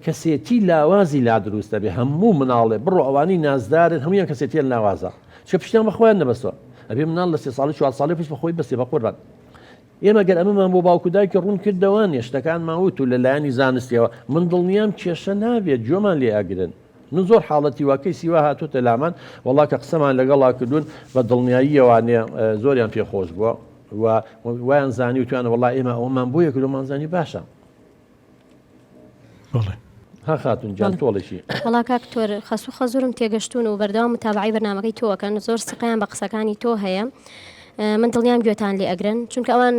کەسێتی لاوازی لا دروست دەبێت هەموو مناڵێ بڕۆ ئەوانەی نازدارن هەموویان کەسێتیە لاوازە چکە پشتیان بە خۆیان نەبەستوە ئەبێ مناڵ لە سێ ساڵی چوار ساڵی پشت بە خۆی بەسێ بە قوربان ئێمە گەر ئەمەمان بۆ باوکو دایکی ڕوون کردەوە نێشتەکان ماوت و لە لایەنی زانستیەوە من دڵنیام کێشە نابێت گوێمان لێ ئەگرن من زۆر حاڵەتی وا کەیسی وا هاتوتە لامان وەڵا کە قسەمان لەگەڵا کردوون بە دڵنیاییەوانێ زۆریان پێخۆش بووە و وایان زانی وتوانە وەڵا ئێمە ئەوەمان بۆیە کردومان زانی باشە بەڵێ. ها خاتون گیان تۆڵەشی. وەڵا کاک دکتۆر خەس و خەزورم تێگەشتوون و بەردەوام متابەعەی بەرنامەکەی تۆ ئەکەن زۆر سقیان بە قسەکانی تۆ هەیە من دڵنیام گوێتان لێ ئەگرن چونکە ئەوان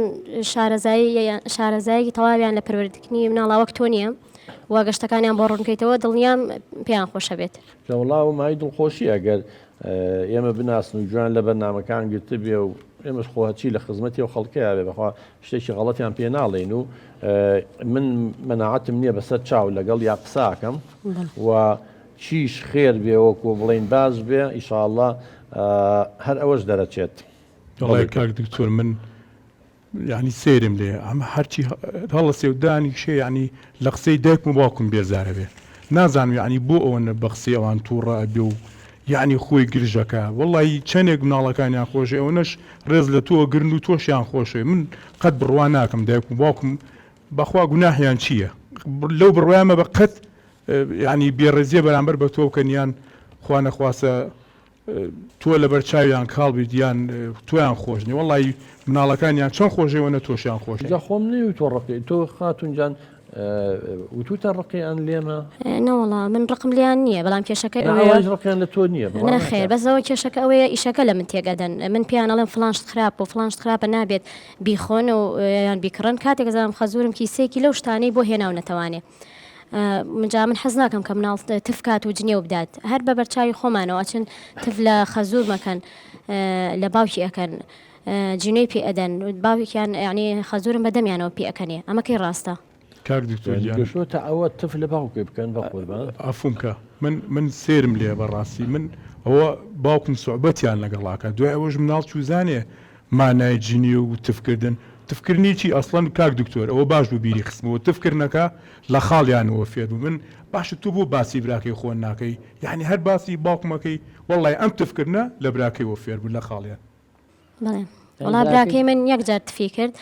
شارەزایی شارەزایەکی تەواویان لە پەروەردەکردنی مناڵا وەک تۆ نییە و گەشتەکانیان بۆ ڕوونکەیتەوە دڵنیام پێیان خۆشە بێت. لەوڵاو مای دڵخۆشی ئەگەر ئێمە بناسن و گوێیان لە بەرنامەکان گرتبێ و ئێمەش خۆ هەرچی لە خزمەتی و خەڵکەیا بێ بەخوا شتێکی غەڵەتیان پێ ناڵێین و من مەناعەتم نییە بەسەر چاو لەگەڵ یا قساکەم و چیش خێر بێ وەکو بڵین باش بێ ئیشاءاللە هەر ئەوەش دەرەچێت. دەڵێ کاک دکتۆر من یانی سەیرم لێیە ئەمە هەرچی هەڵەسێ و دانیشێ یانی لە قسەی دایکم و باوکم بێزارەبێ نازانم یانی بۆ ئەوەنە بە قسەی ئەوان تووڕە ئەبێ و یانی خۆی گرژەکە وەڵی چەندێک مناڵەکانیان خۆشێ ئەوەنەش ڕێز لە تۆ گرن و تۆشیان خۆشێ من قەت بڕوا ناکەم دایک و باوکم بەخوا گوناحیان چییە لەو بڕوایمە بە قەت یانی بێڕێزیە بەرامبەر بە تۆ بکەنیان خوا نەخواسە تۆ لەبەر چاویان کاڵ بیت یان تۆیان خۆش نیە وەڵای مناڵەکانیان چەند خۆشەی وەنە تۆشیان خۆش جا خۆم نەی وتوە ڕقی تۆ خاتون جان وتوتە ڕقی ئەن لێمە نەوەڵا من ڕقم لیان نییە بەڵام کێشەکە ڕقیان لە تۆ نییە نەخێر بەسەوە کێشەکە ئەوەیە ئیشەکە لە من تێگەدەن من پێیان ئەڵێن فلانشت خراپ و فلانشت خراپە نابێت بیخۆن و یان بیکڕن کاتێک زانم خەزورم کیسێکی لەو شتانەی بۆ هێناو نەتەوانێ جا من حەز ناکەم کە مناڵ تف کات و جنێو بدات هەر بە بەرچاوی خۆمانەوە ئەچن تف لە خەزور مەکەن لە باوکی ئەەکەن جنێی پێ ئەدەن باوکیان یعنی خەزورم بەدەمیانەوە پێ ئەەکەنێ ئەمەکەی ڕاستە کاک دکتۆر یعنی گیان گەشۆتە ئەوە تف لە باوکێ بکەن بە قوربان. عەفوم کە من من سێرم لێیە بەڕاستی من ئەوە باوکم سوعبەتیان لەگەڵ ئەکا دوای ئەوەش مناڵ چوزانێ مانای جنێو و تف کردن. تف کردنی چی ئەسڵەن کاک دکتۆر؟ ئەوە باش بوو بیری خستمەوە تف کردنەکە لە خاڵیانەوە فێر بوو من باشە تۆ بۆ باسی براکەی خۆن ناکەی یانی هەر باسی باوکم ئەکەی وەڵای ئەم تف کردنە لە براکەیەوە فێر بوو لە خاڵیان. بەڵێ وەڵا براکەی من یەک جار تفی کرد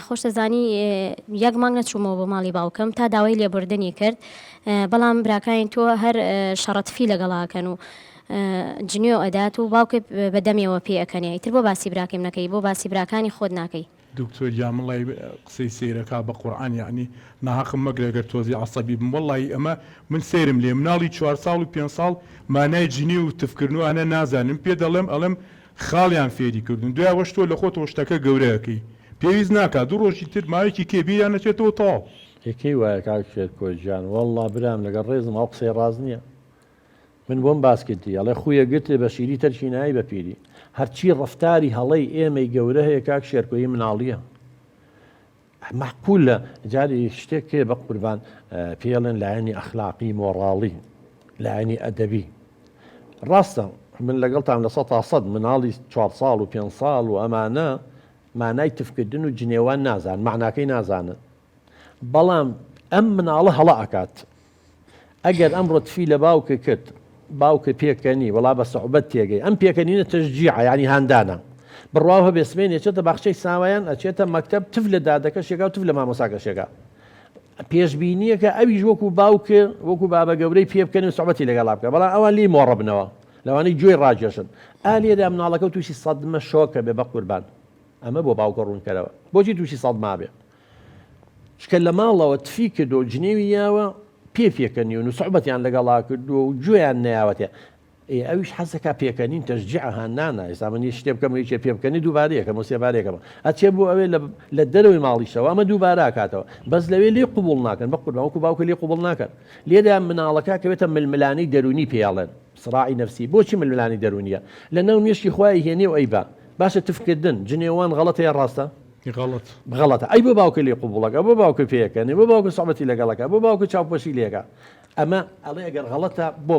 خۆشت دەزانی یەک مانگ نەچوومەوە بۆ ماڵی باوکم تا داوای لێبوردنی کرد بەڵام براکانی تۆ هەر شەڕە تفی لەگەڵا ئەکەن و جنێو ئەدات و باوکێ بە دەمێوە پێ ئەکەنێ ئیتر بۆ باسی براکیم نەکەی بۆ باسی براکانی خۆت ناکەی. دکتۆر گیان مەڵای قسەی سەیرەکا بە قورعان یەعنی ناهەقم مەگرە گەر تۆزی عەسەبی بم وەڵاهی ئەمە من سەیرم لێ مناڵی چوار ساڵ و پێنج ساڵ مانای جنێو و تف کردن و ئەنە نازانێ من پێ دەڵێم ئەڵێم خاڵیان فێری کردوون دوای ئەوەش تۆ لە خۆتەوە شتەکە گەورە ئەکەی پێویست ناکا دوو ڕۆژی تر ماوەیەکی کێ بیریان ئەچێتەوە تەواو. ئێ کەی وایە کاک شێرکۆ گیان. وەڵڵا برام لەگەڵ ڕێزم ئەو قسەی ڕاست نیە من بۆم باس کردی ئەڵێ خویە گرتێ بە شیری تەرکی نایی بە پیری هەرچی ڕفتاری هەڵەی ئێمەی گەورە هەیە کاک شێرکۆی مناڵیە مەحقول لە جاری شتێک کێ بە قوربان پێڵێن لایەنی ئەخلاقی مۆڕاڵی لایەنی ئەدەبی ڕاستە من لەگەڵتان لە سە تا سەد مناڵی چوار ساڵ و پێ ساڵ و ئەمانە مانای تفکردن و جنێوان نازان معناکەی نازانن بەڵام ئەم مناڵە هەڵە ئەکات ئەگەر ئەمڕۆ تفی لە باوکە کرد باوکە پێکەنی وڵا بە سەعبەت تێگەی ئەم پێکەنینە تەژجیع ینی هاندانە بڕوا هەبێ سمێن ێچێتە باخچەی ساوایان ئەچێتە مەکتب تف لە دادەکە شێکا و تف لە مامۆساکە شێکا پێشببینیەکە ئەویش وەکو باوکە وەکو بابە گەورەی پێ بکەن و سوبەتی لەگەڵا بکە بەڵام ئەوان لی مۆڕبنەوە لەوانەی گوێی ڕاجێشن ئالێدا مناڵەکە تووشی سەدمە شۆکە بێ بە قوربان ئەمە بۆ باوکە ڕوونکەرەوە بۆچی تووشی سەدما بێ چکە لە ماڵەوە تفی کردوە و جنێوی یاوە پێ پێکەنیون و سوعبەتیان لەگەڵا کردوە و گوێیان نەیاوەتێ ئێ ئەویش حەزەکا پێکەنین تەشجیعە هاندانە ئێستا من یەک شتێ بکەم و یەکێ پێ بکەنی دووبارە یەکەم و سێبارە یەکەمە ئەچێ بۆ ئەوێ لە دەرەوەی ماڵیشەوە ئەمە دووبارە ئەکاتەوە بەس لەوێ لێی قبووڵ ناکەن بەقوربان وەکوو باوکە لێی قبووڵ ناکەن لێرە مناڵەکە ئەکەوێتە ململانێی دەروونی پێی ئەڵێن سڕاعی نەفسی بۆچی ململانێی دەروونییە لەناو مێشکی خۆی ئەیهێنێ و ئەیبا باشە تفکردن جنێوان غەڵەتە یان ڕاستە غەڵەت. غەڵەتە ئەی بۆ باوکە لێ قوبوڵەکە بۆ باوکە پێیەکەنێ بۆ باوکە سەبەتی لەگەڵەکە بۆ باوکە چاوپۆشی لێکە ئەمە ئەڵێ ئەگەر غەڵەتە بۆ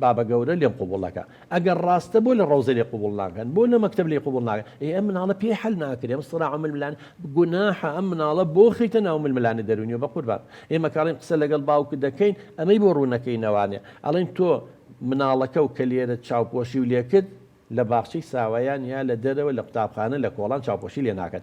بابە گەورە لێم قوبوڵەکە ئەگەر ڕاستە بۆ لە ڕۆزە لێ قوبوڵ ناکەن بۆ لە مەکتب لێ قوبڵ ناکە ئێ ئەم مناڵە پێی حل ناکرێم سرا عمل ملان گوناحە ئەم مناڵە بۆ خیتە ناو مل ملانە دەرونیە بە قوربان ئێمە کاڵین قسە لەگەڵ باوکە دەکەین ئەمەی بۆ ڕوونەکەی نەوانێ ئەڵین تۆ مناڵەکە و کە لێرە چاوپۆشی و لێکرد لە باخچەی ساوایان یا لە دەرەوە لە قوتابخانە لە کۆڵان چاوپۆشی لێ ناکەن